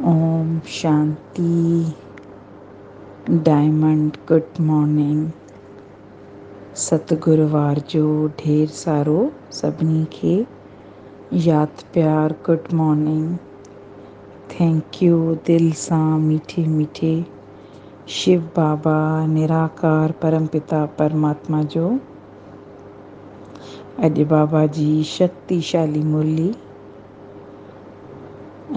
اوم شانتي diamond good morning ستگر وار جو ڍير سارو سڀني کي ياد پيار گڊ مارننگ ٿينڪيو دل سان ميٺي ميٺي شيو بابا نراڪار پرم پتا پرماتما جو اڄ بابا جي شڪتي شالي مرلي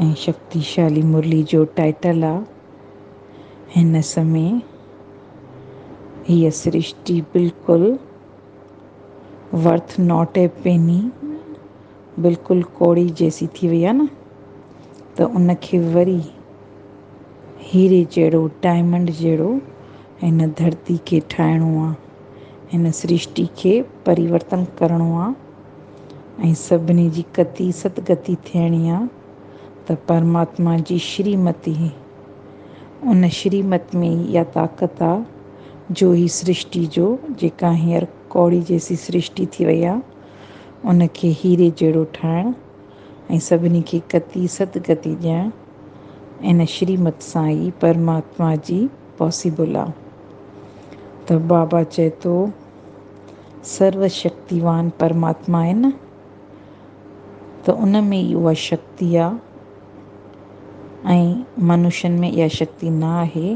۽ شڪتيشالي مرلي جو ٽائيٽل آ. هن سمي هيء سرشٽي بلڪل ورٿ ناٽ اي پيني بلڪل ڪوڙي جيسي ٿي وئي آ نه ته ان کي وري هيري جهڙو ڊائمنڊ جهڙو هن ڌرتي کي ٺاهڻو آ. هن سرشٽي کي پريورتن ڪرڻو آ. ۽ سڀني جي ڪتي ستگتي ٿيڻي آ ته پرماتما جي شري مت ئي ان شري مت ۾ ئي اها طاقت آ جو هي سرشٽي جو جيڪا هينئر ڪوڙي جيسي سرشٽي ٿي وئي آ ان کي هيري جهڙو ٺاهڻ ۽ سڀني کي ڪتي ستگتي ڏيڻ ان شري مت سان ئي پرماتما جي پاسيبل آ ته بابا چئي ٿو سرو شڪتيوان پرماتما آهي نه ته ان ۾ ئي اها شڪتي آهي ۽ منشين ۾ اها شڪتي نه آهي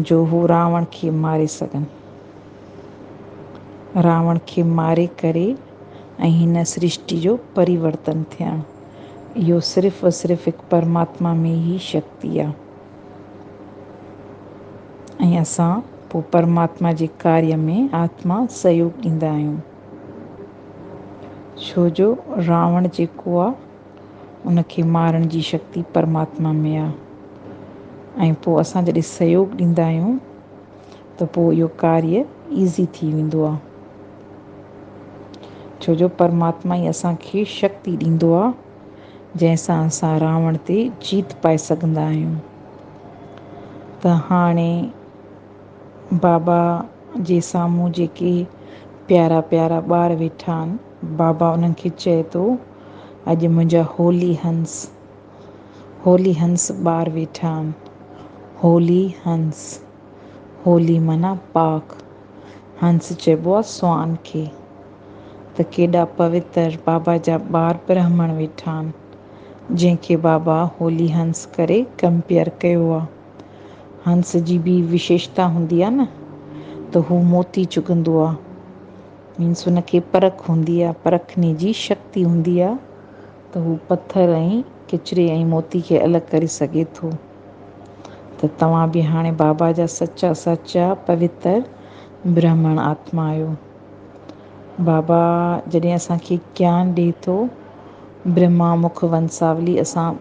جو هو راوڻ کي ماري سگهن. راوڻ کي ماري ڪري ۽ هن سرشٽي جو پريورتن ٿيڻ اهو صرف و صرف هڪ پرماتما ۾ ئي شڪتي آهي. ۽ اسان پوء پرماتما جي ڪاري ۾ آتما سهيوڳ ڏيندا آهيون، ڇو جو راوڻ جيڪو آ، ان کي مارڻ جي شڪتي پرماتما ۾ آ، ۽ پوء اسان جڏهن سهيوڳ ڏيندا آهيون ته پوء اهو ڪاري ايزي ٿي ويندو آ، ڇو جو پرماتما ئي اسان کي شڪتي ڏيندو آ. جنهن سان اسان راوڻ تي جيت پائي سگهندا آهيون ته هاڻي بابا جي سامهون جيڪي پيارا پيارا ٻار ويٺا آهن بابا انهن کي چئي ٿو اڄ منهنجا هولي هنس هولي هنس ٻار ويٺا آهن هولي هنس هولي معنيٰ پاڪ هنس چئبو آهي سوان کي. ته ڪيڏا پوتر بابا جا ٻار برهمڻ ويٺا آهن، جنهن کي بابا هولي هنس ڪري ڪمپيئر ڪيو آ. هنس جي ٻي وشيشتا هوندي آ نه ته هو موتي چڳندو آ. مينس ان کي پرک هوندي آ، پرکني جي شڪتي هوندي آ ته هو پٿر ۽ ڪچري ۽ موتي کي الڳ ڪري سگهي ٿو. ته توهان به هاڻي بابا جا سچا سچا پوتر برهمڻ آتما آهيو. بابا جڏهن اسان کي گيان ڏئي ٿو، برهما مک ونساولي اسان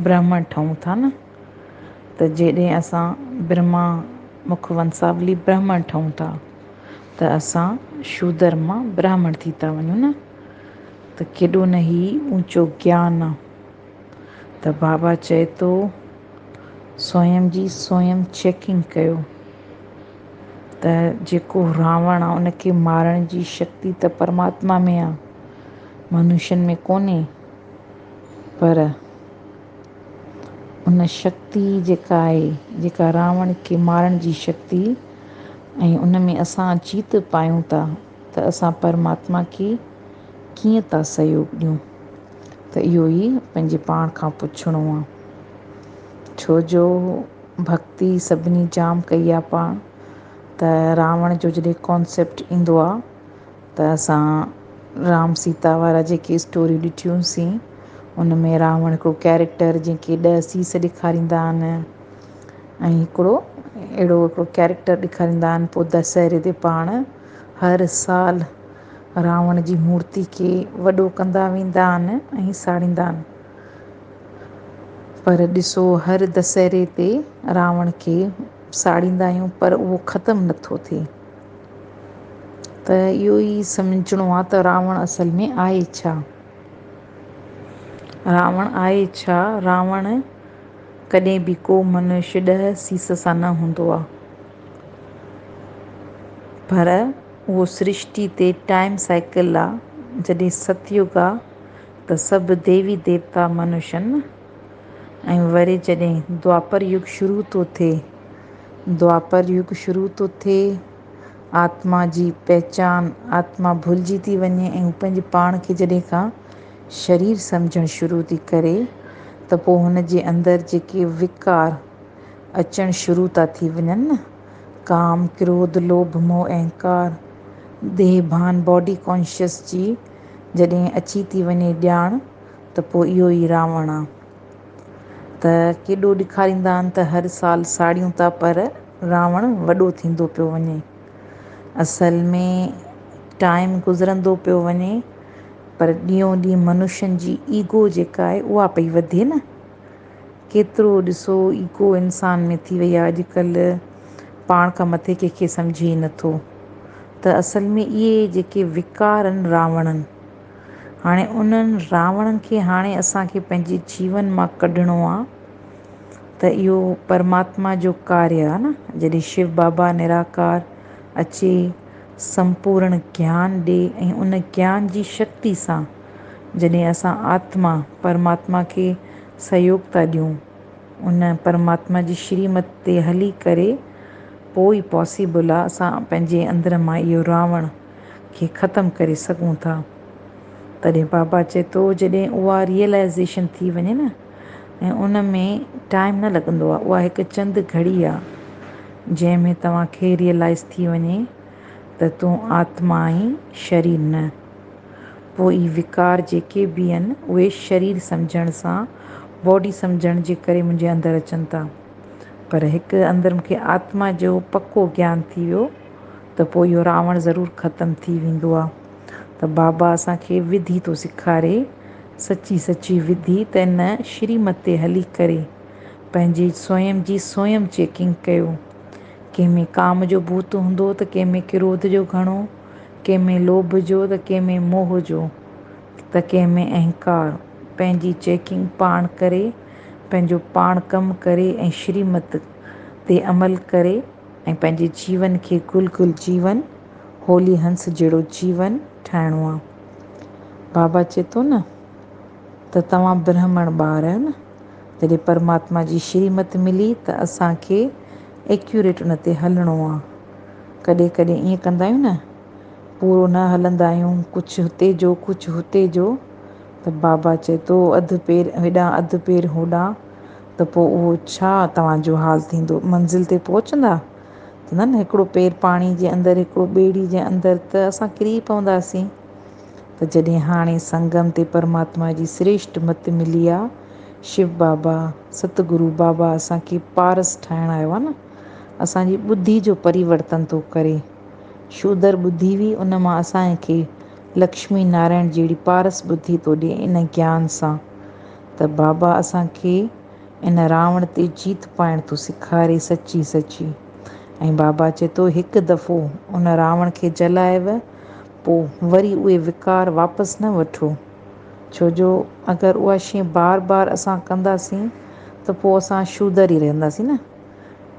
برهمڻ ٺهون ٿا نه، ته جيڏهن اسان برهما مک ونساولي برهمڻ ٺهون ٿا، ته اسان شودر مان براهمڻ ٿي ٿا وڃون نه، ته ڪيڏو نه هي اوچو گيان آ. ته بابا چئي ٿو سوئم جي سوئم چيڪنگ ڪيو. ته جيڪو راوڻ آ ان کي مارڻ جي شڪتي ته پرماتما ۾ آ منوشن ۾ ڪونهي پر ان شڪتي جيڪا آهي جيڪا راوڻ کي مارڻ جي شڪتي ۽ ان ۾ اسان جيت پايون ٿا ته اسان پرماتما کي ڪيئن ٿا سهيوڳ ڏيون ته اهو ئي پنهنجي پاڻ کان پڇڻو آ ڇو جو ڀڳتي سڀني جام ڪئي آ پاڻ ته راوڻ جو جڏهن ڪانسيپٽ ايندو آ ته اسان رام سيتا وارا جيڪي اسٽوريون ڏٺيون سين ان ۾ راوڻ هڪڙو ڪيريڪٽر جنهن کي ڏهه سيس ڏيکاريندا آهن ۽ هڪڙو اهڙو هڪڙو ڪيريڪٽر ڏيکاريندا آهن پوء دسهري تي پاڻ هر سال راوڻ جي مورتي کي وڏو ڪندا ويندا آهن ۽ ساڙيندا آهن. پر ڏسو هر دسهري تي راوڻ کي ساڙيندا آهيون پر اهو ختم نه ٿو ٿئي ته اهو ئي سمجهڻو آهي ته راوڻ اصل ۾ آهي ڇا؟ راوڻ آهي ڇا؟ راوڻ ڪڏهن به ڪو منش ڏهه سيس سان نه هوندو آهي پر اهو سرشتي تي ٽائيم سائيڪل آهي جڏهن ستيوگ آهي ته سڀ ديوي ديوتا منشن ۽ وري جڏهن دوآپر يگ شروع ٿو ٿئي، دوآپر يگ شروع ٿو ٿئي، آتما جي پهچان، آتما ڀلجي ٿي وڃي ۽ هو پنهنجي پاڻ کي جڏهن ڪا شرير سمجهڻ شروع ٿي ڪري ته پوء هن جي اندر جيڪي وڪار اچڻ شروع ٿا ٿي وڃن نه، ڪام، ڪروڌ، لوڀ، موهه، اهنڪار، ديهڀان، Body Conscious، جي جڏهن اچي ٿي وڃي ڄاڻ ته پوء اهو ئي راوڻ آ. ته ڪيڏو ڏيکاريندا آهن ته هر سال ساڙيون ٿا پر راوڻ وڏو ٿيندو پيو وڃي. اصل ۾ ٽائيم گذرندو پيو وڃي پر ڏينهون ڏينهن منشين جي ايگو جيڪا آهي اها پئي وڌي نه. ڪيترو ڏسو ايگو انسان ۾ ٿي وئي آ اڄ ڪلهه پاڻ کان مٿي ڪنهن کي سمجهي ئي نه ٿو ته اصل ۾ اهي جيڪي وڪار ان راوڻن هاڻي انهن راوڻن کي هاڻي اسان کي پنهنجي جيون مان ڪڍڻو آ ته اهو پرماتما جو ڪاريه آ نه جڏهن شو بابا نراڪار اچي سمپورڻ گيان ڏي ۽ ان گيان جي شڪتي سان جڏهن اسان آتما پرماتما کي سهيوگ ٿا ڏيون ان پرماتما جي شريمت تي هلي ڪري پوء ئي پاسيبل آ اسان پنهنجي اندر مان اهو راوڻ کي ختم ڪري سگهون ٿا تڏهن بابا چئي ٿو جڏهن اها ريئلائيزيشن ٿي وڃي نه ۽ ان ۾ ٽائيم نه لڳندو آ اها هڪ چند گهڙي آ جنهن ۾ توهان کي ريئلائيز ٿي وڃي ته تون آتما آهين شرير نه. پوء اهي وقار جيڪي به آهن اهي شرير سمجهڻ سان باڊي سمجهڻ جي ڪري منهنجي اندر اچن ٿا پر هڪ اندر مون کي آتما جو پڪو گيان ٿي ويو ته پوء اهو راوڻ ضرور ختم ٿي ويندو آهي ته بابا اسان کي وڌي ٿو سيکاري سچي سچي وڌي ته ان شريمت تي هلي ڪري پنهنجي سويم جي سويم چيڪنگ ڪيو ڪنهن ۾ ڪام جو ڀوت هوندو ته ڪنهن ۾ ڪروڌ جو گهڻو ڪنهن ۾ لوڀ جو ته ڪنهن ۾ موهه جو ته ڪنهن ۾ اهنڪار. پنهنجي چيڪنگ پاڻ ڪري، پنهنجو پاڻ ڪم ڪري ۽ شريمت تي عمل ڪري ۽ پنهنجي جيون کي گل گل جيون، هولي هنس جهڙو جيون ٺاهڻو آ. بابا چئي ٿو نه ته توهان برهمڻ ٻار آهيو نه، جڏهن پرماتما جي شريمت ملي ته اسان کي ايڪيوريٽ ان تي هلڻو آ. ڪڏهن ڪڏهن ائين ڪندا آهيون نه، پورو نه هلندا آهيون، ڪجهه هتي جو ڪجهه هتي جو، ته بابا چئي ٿو اڌ پير هيڏانهن اڌ پير هوڏانهن، ته پوء اهو ڇا توهان جو حال ٿيندو؟ منزل تي پهچندا؟ چوندا آهن نه هڪڙو پير پاڻي جي اندر هڪڙو ٻيڙي جي اندر ته اسان ڪري پونداسين. ته جڏهن هاڻي سنگم تي پرماتما جي سريشٽ مت ملي آ، شو بابا، ست گرو بابا اسان کي پارس ٺاهڻ آيو آ نه، اسان جي ٻڌي جو پريورتن ٿو ڪري. شودر ٻڌي هئي ان مان اسان کي لڪشمي نارائڻ جهڙي پارس ٻڌي ٿو ڏئي ان گيان سان ته بابا اسان کي ان راوڻ تي جيت پائڻ ٿو سيکاري سچي سچي ۽ بابا چئي ٿو هڪ دفعو ان راوڻ کي جلائيو پو وري اهي وڪار واپس نه وٺو ڇو جو اگر اها شي بار بار اسان ڪنداسين ته پو اسان شودر ئي رهنداسين نه.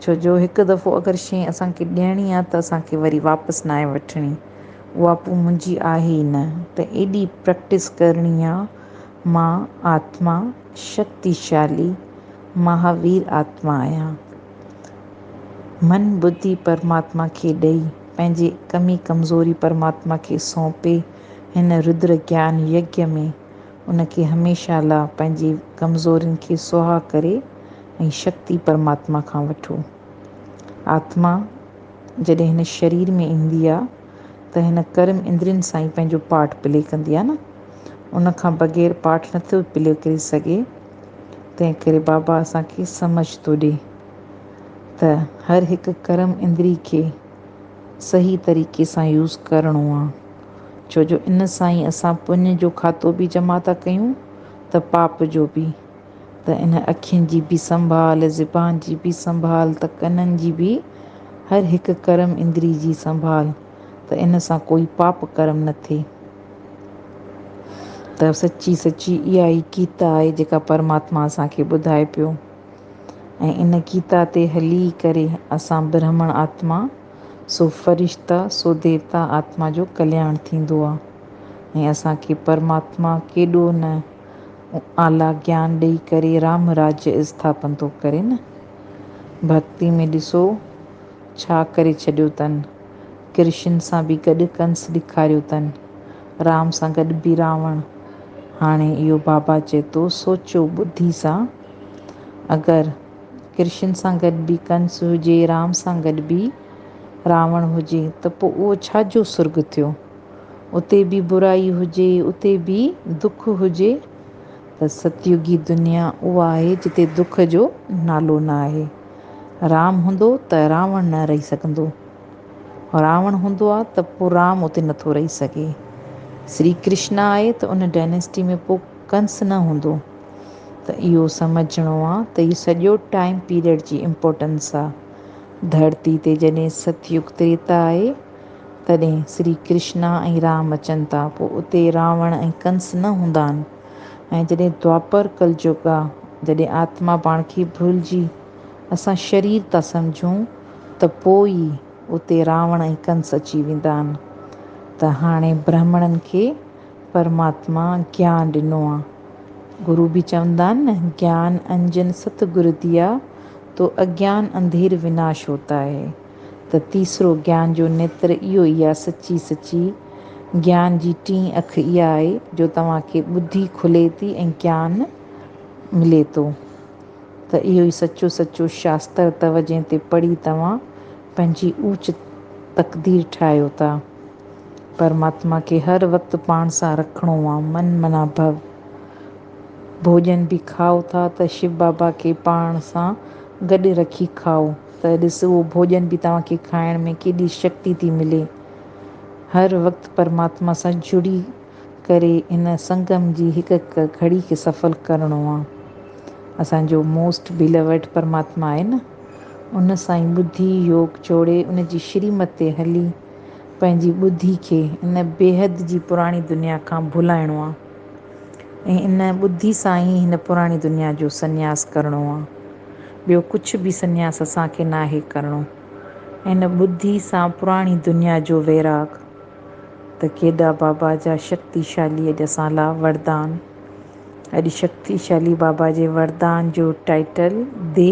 ڇو جو هڪ دفعو اگر شيء اسان کي ڏيڻي آ ته اسان کي وري واپس ناهي وٺڻي اها پوء منهنجي آهي ئي نه ته ايڏي پرئڪٽس ڪرڻي آ مان آتما شڪتي شالي مهاوير آتما آهيان من ٻڌي پرماتما کي ڏئي پنهنجي ڪمي ڪمزوري پرماتما کي سونپي هن رودر گيان يگيا ۾ ان کي هميشه لا پنهنجي ڪمزورين کي سها ڪري ۽ شڪتي پرماتما کان وٺو. آتما جڏهن هن شرير ۾ ايندي آ ته هن ڪرم اندرين سان ئي پنهنجو پارٽ پلي ڪندي آ نه. ان کان بغير پارٽ نه ٿو پلي ڪري سگهي. تنهن ڪري بابا اسان کي سمجهه ٿو ڏي ته هر هڪ ڪرم اندري کي صحيح طريقي سان يوز ڪرڻو آ. ڇو جو ان سان ئي اسان پڃ جو کاتو به جمع ٿا ڪيون ته پاپ جو به، ته ان اکين جي به سنڀال، زبان جي به سنڀال ته ڪنن جي به، هر هڪ ڪرم اندري جي سنڀال ته ان سان ڪوئي پاپ ڪرم نه ٿئي. ته سچي سچي اها ئي گيتا آهي جيڪا پرماتما اسان کي ٻڌائي پيو ۽ ان گيتا تي هلي ڪري اسان برهمڻ آتما، سو فرشتا، سو ديوتا آتما جو ڪلياڻ ٿيندو آ ۽ اسان کي پرماتما ڪيڏو نه اعليٰ گيان ڏئي ڪري رام راجيء اسٿاپن ٿو ڪري نه! ڀڳتي ۾ ڏسو ڇا ڪري ڇڏيو تن! ڪرشن سان به گڏ ڪنس ڏيکاريو تن، رام سان گڏ به راوڻ! هاڻي اهو بابا چئي ٿو سوچيو ٻڌي سان! اگر. ڪرشن سان گڏ به ڪنس هجي، رام سان گڏ به راوڻ هجي ته پوء اهو ڇا جو سرڳ ٿيو؟ اتي به برائي هجي، اتي به دک هجي ته ستيوگي دنيا اها آهي جتي دک جو نالو نه آهي. رام هوندو ته راوڻ نه رهي سگهندو. راوڻ هوندو آ ته پوء رام اتي نه ٿو رهي سگهي. سري ڪرشن آهي ته ان ڊائناسٽي ۾ پوء ڪنس نه هوندو. ته اهو سمجهڻو آ ته هي سڄو ٽائيم پيريڊ جي امپورٽنس آ. ڌرتي تي جڏهن ست يگ تريتا آهي تڏهن شري ڪرشنا ۽ رام اچن ٿا پوء اتي راوڻ ۽ ڪنس نه هوندا آهن ۽ جڏهن دوآپر ڪلجگ آ جڏهن آتما پاڻ کي ڀلجي اسان شرير ٿا سمجهون ته پوء ئي اتي راوڻ ۽ ڪنس اچي ويندا آهن ته هاڻي برهمڻن کي پرماتما گيان ڏنو آ. گرو به چوندا آهن نه، گيان انجن ست گر ديا، تو اگيان انڌير وناش هوتا هي، ته تيسرو گيان جو نيتر اهو ئي آهي سچي سچي گيان جي ٽين اک اها آهي جو توهان کي ٻڌي کلي ٿي ۽ گيان ملي ٿو ته اهو ئي سچو سچو شاستر اٿو جنهن تي پڙهي توهان پنهنجي اوچ تقدير ٺاهيو ٿا. پرماتما کي هر وقت پاڻ سان رکڻو آ، من منا ڀو. ڀوڄن به کائو ٿا ته شو بابا کي پاڻ سان گڏ رکي کائو ته ڏس اهو ڀوڄن به توهان کي کائڻ ۾ ڪيڏي شڪتي ٿي ملي. هر وقت پرماتما سان جڙي ڪري ان سنگم جي هڪ هڪ گهڙي کي سڦل ڪرڻو آ. اسان جو موسٽ بيلوڊ پرماتما آهي نه. ان سان ئي ٻڌي يوگ جوڙي ان جي شريمت تي هلي پنهنجي ٻڌي کي ان بيحد جي پراڻي دنيا کان ڀلائڻو آ ۽ ان ٻڌي سان ئي هن پراڻي دنيا جو سنياس ڪرڻو آ. ٻيو ڪڇ به سنياس اسان کي ناهي ڪرڻو. ان ٻڌي سان پراڻي دنيا جو ويراڳ ته ڪيڏا بابا جا شڪتيشالي اڄ اسان لا وردان. اڄ شڪتيشالي بابا جي وردان جو ٽائيٽل دي.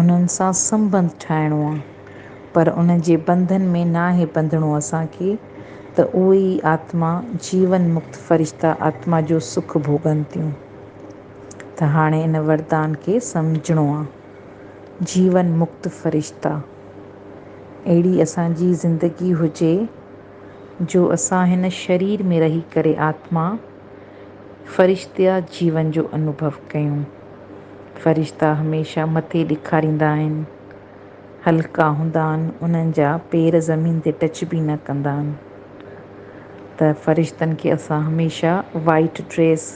انهن سان سنبنڌ ٺاهڻو آ پر ان جي بنڌن ۾ ناهي بنڌڻو اسان کي ته اهي ئي آتما جيون مڪت فرشتا آتما جو سک ڀوڳن ٿيون ته هاڻي ان وردان کي سمجهڻو آ جيون مڪت فرشتا اهڙي اسان جي زندگي هجي جو اسان هن شرير ۾ رهي ڪري آتما فرشتيا جيون جو انوڀو ڪيون. فرشتا هميشه مٿي ڏيکاريندا آهن. هلڪا هوندا آهن، انهن جا پير زمين تي ٽچ به نه ڪندا آهن ته فرشتن کي اسان هميشه وائيٽ ڊريس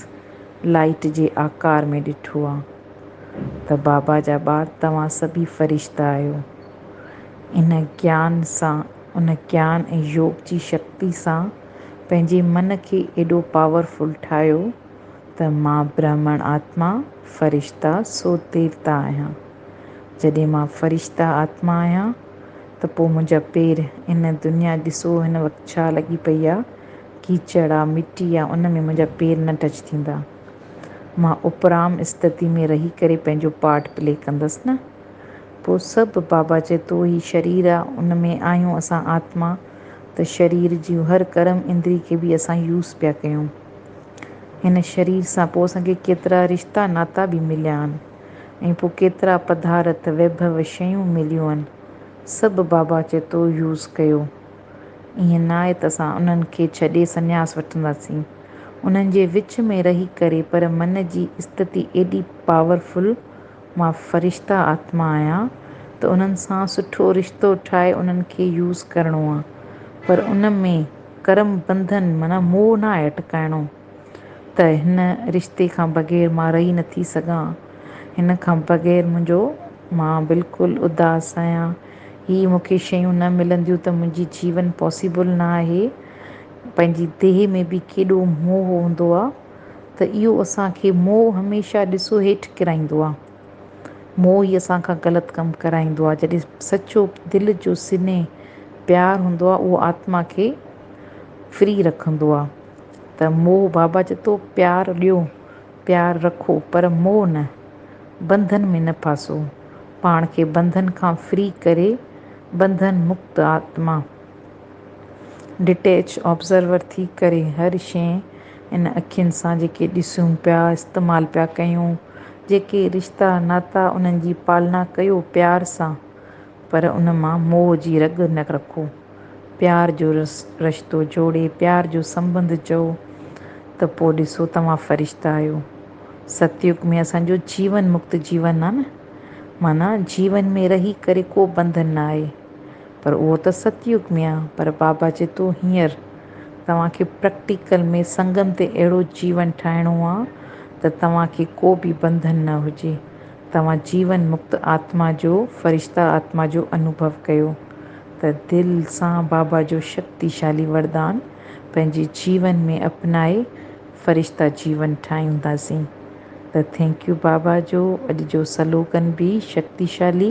لائيٽ جي آڪار ۾ ڏٺو آهي ته بابا جا ٻار توهان سڀي فرشتا آهيو. ان گيان سان ان گيان ۽ يوگ جي شڪتي سان پنهنجي من کي ايڏو پاور فل ٺاهيو. ته مان برهمڻ آتما، فرشته، سو ديوتا آهيان. جڏهن مان فرشته آتما آهيان ته پوء منهنجا پير ان دنيا ڏسو هن وقت ڇا لڳي پئي آ، ڪيچڙ آ، مٽي آ، ان ۾ منهنجا پير نه ٽچ ٿيندا. مان اپرام استتي ۾ رهي ڪري پنهنجو پارٽ پلي ڪندس نه. پوء سڀ بابا چئي ٿو هي شرير آ، ان ۾ آهيون اسان آتما ته شرير جون هر ڪرم اندري کي به اسان يوز پيا ڪيون. هن شرير سان پوء اسان کي ڪيترا رشتا ناتا به مليا آهن ۽ پوء ڪيترا پڌارٿ، ويڀو، شيون مليون آهن، سڀ بابا چئي ٿو يوز ڪيو. ائين ناهي ته اسان انهن کي ڇڏي سنياس وٺنداسين. انهن جي وچ ۾ رهي ڪري پر من جي استتي ايڏي پاورفل مان فرشته آتما آهيان ته انهن سان سٺو رشتو ٺاهي انهن کي يوز ڪرڻو آ پر ان ۾ ڪرم بنڌن معنيٰ موهه نه آهي اٽڪائڻو ته هن رشتي کان بغير مان رهي نه ٿي سگهان هن کان بغير منهنجو مان بلڪل اداس آهيان هي مون کي شيون نه ملنديون ته منهنجي جيون پاسيبل نه آهي پنهنجي ديهه ۾ به ڪيڏو موهه هوندو آ. ته اهو اسان کي موهه هميشه ڏسو هيٺ ڪرائيندو آهي. موهه ئي اسان کان غلط ڪم ڪرائيندو آهي. جڏهن سچو دل جو سنهي پيار هوندو آهي اهو آتما کي فري رکندو آهي ته موهه بابا چئي ٿو پيار ڏيو پيار رکو پر موهه نه، بنڌن ۾ نه ڦاسو، پاڻ کي بنڌن کان فري ڪري بنڌن مڪت آتما ڊٽيچ آبزرور ٿي ڪري هر شيء ان اکين سان جيڪي ڏسون پيا، استعمال پيا ڪيون، جيڪي رشتا ناتا انهن جي پالنا ڪيو پيار سان پر ان مان موهه جي رڳ نه رکو. پيار جو رشتو جوڙي پيار جو سنبنڌ چئو ته پوء ڏسو توهان فرشتا آهيو. ستيوگ ۾ اسان جو جيون مڪت جيون آهي نه معنيٰ جيون ۾ رهي ڪري ڪو بنڌن نه آهي. پر اهو ته ست يگ ۾ آ. پر بابا جتو هينئر توهان کي پرئڪٽيڪل ۾ سنگم تي اهڙو جيون ٺاهڻو آ ته توهان کي ڪو به بنڌن نه هجي. توهان جيون مڪت آتما جو، فرشته آتما جو انوڀو ڪيو ته دل سان بابا جو شڪتيشالي وردان پنهنجي جيون ۾ اپنائي فرشته جيون ٺاهيونداسين ته ٿينڪ يو بابا جو اڄ جو سلوگن به شڪتيشالي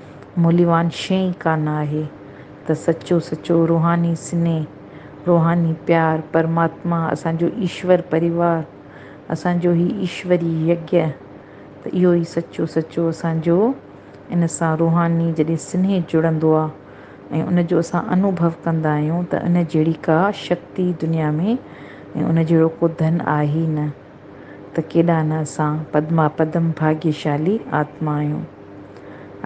موليوان شيء ئي ڪانه آهي ته سچو سچو روحاني سنيهه، روحاني پيار، پرماتما، اسان جو ايشور پريوار، اسان جو هي ايشوري يگيه ته اهو ئي سچو سچو اسان جو ان سان روحاني جڏهن سنيهه جڙندو آ ۽ ان جو اسان انوڀو ڪندا آهيون ته ان جهڙي ڪا شڪتي دنيا ۾ ۽ ان جهڙو ڪو ڌن آهي ئي نه. ته ڪيڏا نه اسان پدما پدم ڀاگيشالي آتما آهيون.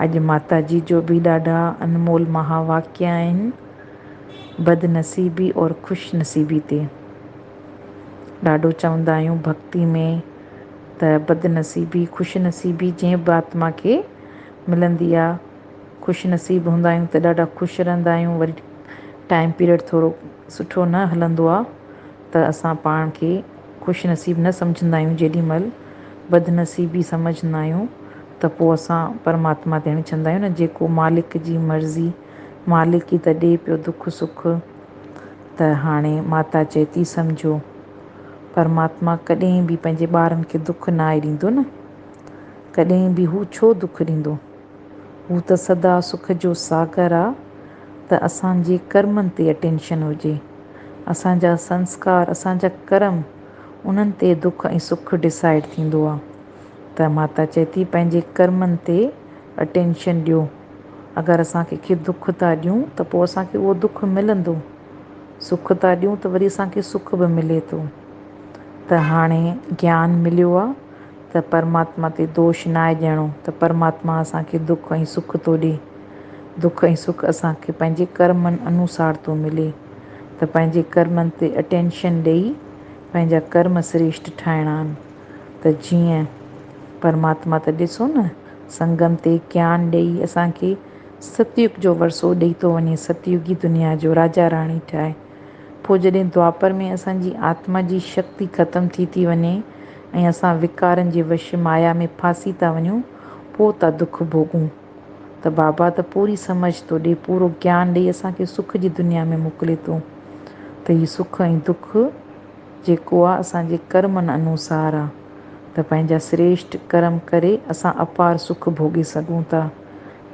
اڄ ماتا جي جو به ڏاڍا انمول مها واڪيه آهن، بد نصيبي اور خوش نصيبي تي. ڏاڍو چوندا آهيون ڀڳتي ۾ ته بد نصيبي خوش نصيبي جنهن به آتما کي ملندي آ، خوش نصيب هوندا آهيون ته ڏاڍا خوش رهندا آهيون وري ٽائيم پيريڊ ٿورو سٺو نه هلندو آ، ته اسان پاڻ کي خوش نصيب نه سمجهندا آهيون جيڏي مهل بدنصيبي سمجهندا آهيون ته پوء اسان پرماتما تي اڻڇندا آهيون نه جيڪو مالڪ جي مرضي مالڪ ئي ته ڏي پيو دک سک ته هاڻي ماتا چئي ٿي سمجهو پرماتما ڪڏهن به پنهنجي ٻارن کي دک ناهي ڏيندو نه ڪڏهن به هو ڇو دک ڏيندو. هو ته سدا سک جو ساگر آ ته اسان جي ڪرمن تي اٽينشن هجي اسان جا سنسڪار اسان جا ڪرم انهن تي دک ۽ سک ڊسائيڊ ٿيندو آ ته ماتا چئي ٿي پنهنجي ڪرمن تي اٽينشن ڏيو اگر اسان ڪنهن کي دک ٿا ڏيون ته پوء اسان کي اهو دک ملندو سک ٿا ڏيون ته وري اسان کي سک به ملي ٿو ته هاڻي گيان مليو آ ته پرماتما تي دوش ناهي ڏيڻو ته پرماتما اسان کي دک ۽ سک ٿو ڏي. دک ۽ سک اسان کي پنهنجي ڪرمن انوسار ٿو ملي ته پنهنجي ڪرمن تي اٽينشن ڏئي پنهنجا ڪرم سريشٽ ٺاهڻا آهن ته جيئن پرماتما ته ڏسو نه سنگم تي گيان ڏئي اسان کي ستيوگ جو ورسو ڏئي ٿو وڃي ستيوگي دنيا جو راجا راڻي ٺاهي پوء جڏهن دوآپر ۾ اسان جي آتما جي شڪتي ختم ٿي ٿي وڃي ۽ اسان وڪارن جي وش مايا ۾ ڦاسي ٿا وڃون پوء ٿا دک ڀوڳون ته بابا ته پوري سمجهه ٿو ڏئي پورو گيان ڏئي اسان کي سک جي دنيا ۾ موڪلي ٿو ته هي سک ۽ دک جيڪو آ اسان جي ڪرمن انوسار آ ته پنهنجا سريشٽ ڪرم ڪري اسان اپار سک ڀوڳي سگهون ٿا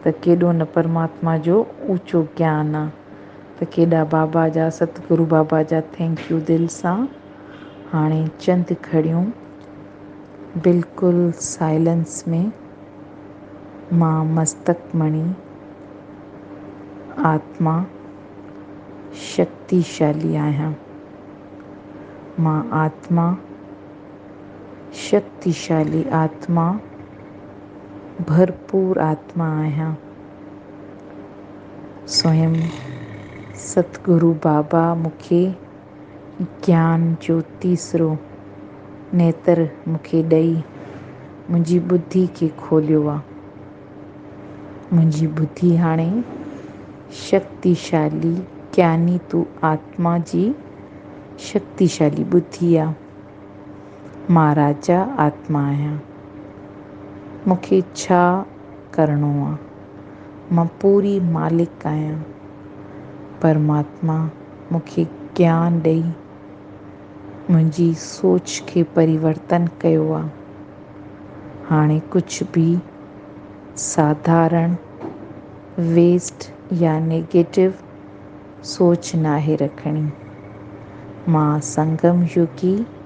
ته ڪيڏو نه پرماتما جو اوچو گيان آ. ته ڪيڏا بابا جا ستگرو بابا جا ٿينڪ يو دل سان هاڻي چند گهڙيون بلڪل سائلنس ۾ مان مستڪ مڻي آتما شڪتي شالي آهيان مان آتما شڪتي شالي آتما ڀرپور آتما آهيان. سوئم ست گرو بابا مونکي گيان جو تيسرو نيتر مونکي ڏئي منهنجي ٻڌي کي کوليو آ. منهنجي ٻڌي هاڻي شڪتيشالي گياني تو آتما جي شڪتيشالي ٻڌي آ. مان راجا آتما آهيان. مونکي ڇا ڪرڻو آ. مان پوري مالڪ آهيان. پرماتما مون کي گيان ڏئي منهنجي سوچ کي پريورتن ڪيو آ. هاڻي ڪجهه به ساڌارڻ، ويسٽ يا نيگيٽو سوچ ناهي رکڻي. مان سنگم يوگي.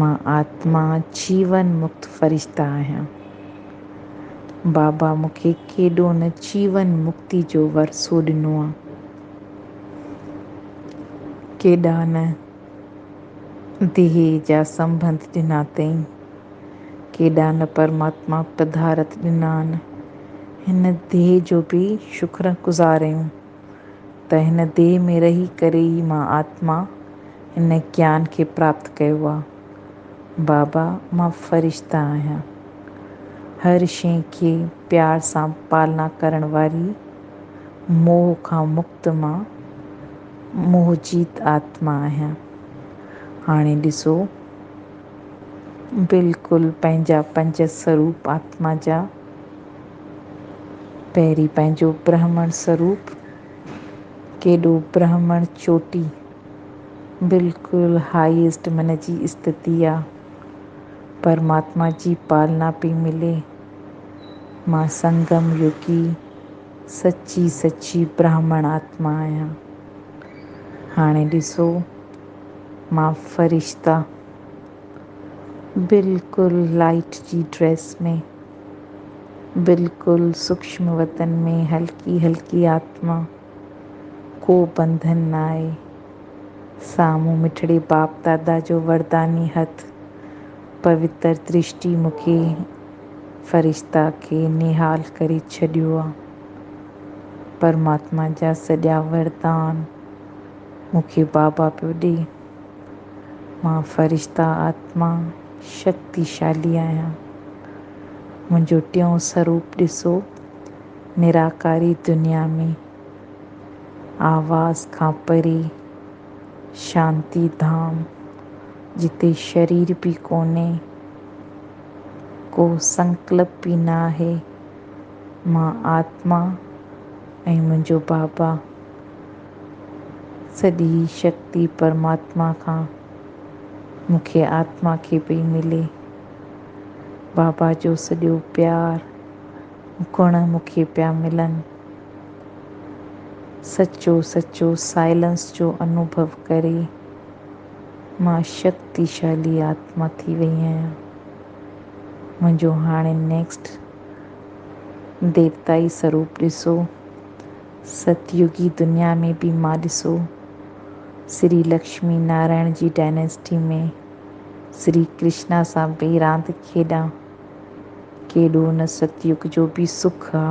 مان آتما جيون مڪت فرشته آهيان. بابا مون کي ڪيڏو نه جيون مڪتي جو ورثو ڏنو آ. ڪيڏا نه ديهه جا سنبنڌ ڏنا تئين. ڪيڏا نه پرماتما پڌارٿ ڏنا آن. هن ديهه جو به شڪر گذار آهيون. ته هن ديهه ۾ رهي ڪري ئي مان آتما، هن گيان کي پراپت ڪيو آ. بابا مان فرشته آهيان. هر شيء کي پيار سان پالنا ڪرڻ واري موهه کان مڪت مان موهه جيت آتما آهيان. هاڻي ڏسو بلڪل پنهنجا پنج سروپ آتما جا. پهرين پنهنجو برهمڻ سروپ، ڪيڏو برهمڻ چوٽي، بلڪل هائيسٽ من جي استتي آ. پرماتما جي پالنا پئي ملي. مان سنگم يوگي سچي سچي برهمڻ آتما آهيان. هاڻي ڏسو مان فرشته، بلڪل لائيٽ جي ڊريس ۾. بلڪل سوڪشم وتن ۾ هلڪي هلڪي آتما، ڪو بنڌن ناهي. سامهون مٺڙي باپ دادا جو ورداني هٿ، پوتر درشٽي مون کي فرشته کي نهال ڪري ڇڏيو آ. پرماتما جا سڄا وردان مون کي بابا پيو ڏي. مان فرشته آتما شڪتيشالي آهيان. منهنجو ٽيون سروپ ڏسو، نراڪاري دنيا ۾، آواز کان پري، شانتي ڌام، جتي شرير به ڪونهي، ڪو سنڪلپ به نه آهي. مان آتما ۽ منهنجو بابا سڄي شڪتي پرماتما کان مون کي آتما کي پئي ملي. بابا جو سڄو پيار گڻ مون کي پيا ملن. سچو سچو سائلنس جو انوڀو ڪري مان شڪتيشالي آتما ٿي وئي آهيان. منهنجو هاڻي نيڪسٽ ديوتائي سروپ ڏسو. ستيوگي دنيا ۾ به مان ڏسو، سري لڪشمي نارائڻ جي ڊائناسٽي ۾ سري ڪرشنا سان به راند کيڏان. ڪيڏو ان ستيوگ جو به سک آ.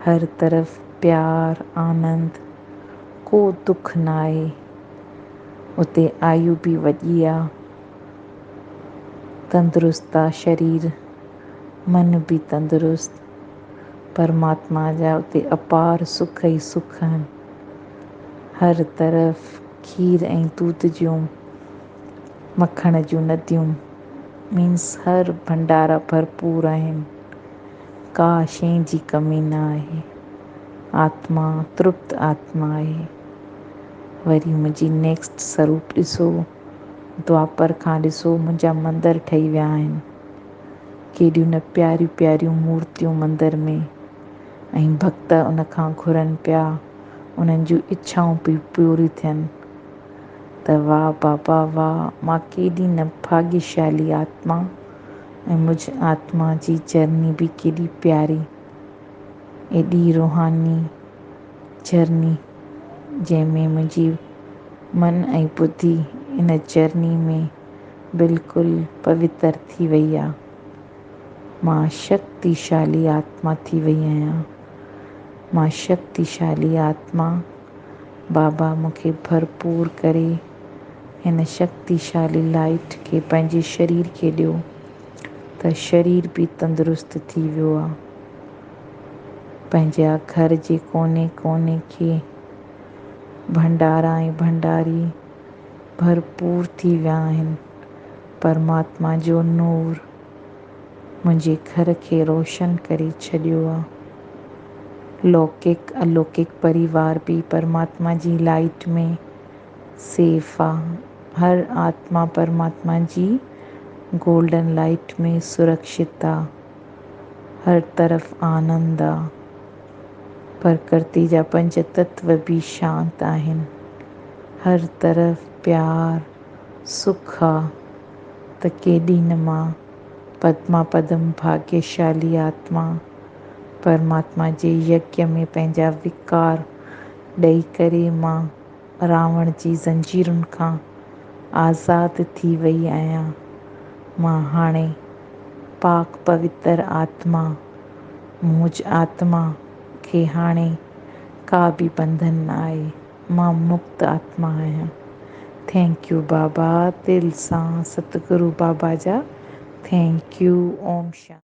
هر طرف پيار، آنند، ڪو دک نه آهي. اتي آيو به وڏي آ. تندرست آ شرير، من به تندرست. پرماتما جا اتي اپار سک ئي سک آهن. هر طرف کير ۽ دود جون، مکڻ جون نديون مينس هر ڀنڊارا ڀرپور آهن. ڪا شيء جي ڪمي نه آهي. آتما ترپت آتما آهي. وري منهنجي نيڪسٽ سروپ ڏسو. دوآپر کان ڏسو منهنجا مندر ٺهي ويا آهن. ڪيڏيون نه پياريون پياريون مورتيون مندر ۾ ۽ ڀڳت ان کان گهرن پيا انهن جون اڇائون به پوريون ٿين ته واه بابا واه مان ڪيڏي نه ڀاڳيشالي آتما ۽ مجھ آتما جي جرني به ڪيڏي پياري ايڏي روحاني جرني. جنهن ۾ منهنجي من ۽ ٻڌي ان چرني ۾ بلڪل پوتر ٿي وئي آ. مان شڪتيشالي آتما ٿي وئي آهيان. مان شڪتيشالي آتما. بابا مون کي ڀرپور ڪري هن شڪتيشالي لائٽ کي پنهنجي شرير کي ڏيو ته شرير به تندرست ٿي ويو آ. پنهنجي گهر جي ڪوني ڪوني کي ڀنڊارا ۽ ڀنڊاري ڀرپور ٿي ويا آهن. پرماتما جو نور منهنجي گهر کي روشن ڪري ڇڏيو آ. لوڪڪ الوڪڪ پريوار به پرماتما جي لائيٽ ۾ سيف آ. هر آتما پرماتما جي گولڊن لائيٽ ۾ سرڪشت آ. هر طرف آنند آ. پرڪرتي جا پنج تتو به شانت آهن. هر طرف پيار، سک آ ته ڪيڏي نه ماء پدما پدم ڀاگيشالي آتما پرماتما جي يگيا ۾ پنهنجا وڪار ڏئي ڪري ماء راوڻ جي زنجيرن کان آزاد ٿي وئي آهيان. مان هاڻي پاڪ پوتر آتما. منهج آتما کي هاڻي ڪا به بنڌن نه آهي. مان مڪت آتما آهيان. ٿينڪ يو بابا دل سان ستگرو بابا جا ٿينڪ يو اوم شانتي.